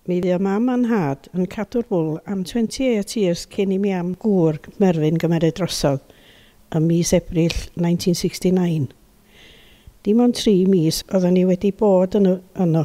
Mi fuo mam a nhad yn cadw'r bwl am 28 years cyn i mi am gŵr, Merfyn, gymeryd drosodd ym mis Ebrill 1969. Dim ond tri mis oeddan ni wedi bod yn yno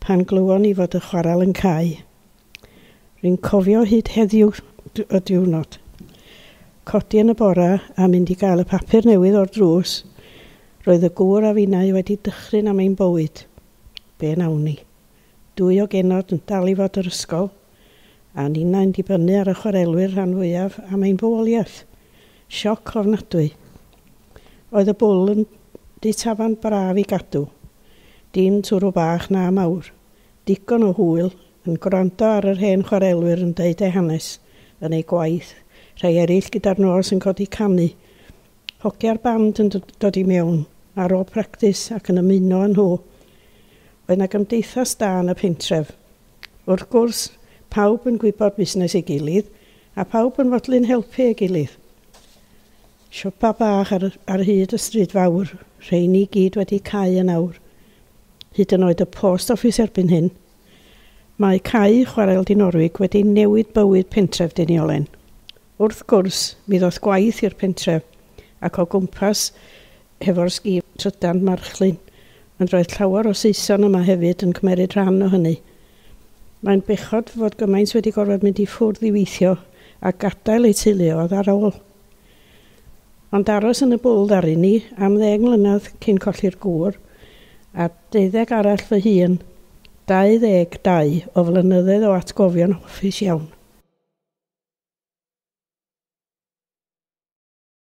pan glywon ni fod y chwarel yn cau. Rwy'n cofio hyd heddiw y diwrnod. Codi yn y bore a mynd i gael y papur newydd o'r drws, roedd y gŵr a finnau wedi dychryn am ein bywyd. Be wnawn ni? Dwy o genod yn dal i fod yr ysgol, a ninnau'n dibynnu ar y chwarelwyr rhan fwyaf am ein bywoliaeth. Sioc ofnadwy. Oedd y bwl yn dŷ tafarn braf i gadw. Dim twrw bach na mawr. Digon o hwyl, yn gwrando ar yr hen chwarelwyr yn deud eu hanes, yn eu gwaith, rhai eraill gyda'r nos yn codi canu. Hogia'r band yn dod i mewn, ar ôl practis, ac yn ymuno â nhw. Oedd 'na gymdeithas da yn y pentref. Wrth gwrs, pawb yn gwybod busnes ei gilydd, a phawb yn fodlon helpu ei gilydd. Siopa bach ar ar hyd y stryd fawr, rheini i gyd wedi cau yn awr. Hyd yn oed y post office erbyn hyn. Mae Cae Chwarel Dinorwig wedi newid bywyd pentref Deiniolen. Wrth gwrs, mi ddoth gwaith i'r pentref, ac o gwmpas hefo'r sgîm trydan marchlyn, ond roedd llawer o Saeson yma hefyd yn cymeryd rhan o hynny. Mae'n bechod fod gymaint wedi gorfod mynd i ffwrdd i weithio a gadael eu teuluoedd ar ôl. Ond aros yn y bwl ddaru ni am ddeg mlynedd cyn colli'r gŵr, a deuddeg arall fy hun, 22 o flynyddedd o atgofion hoffus iawn.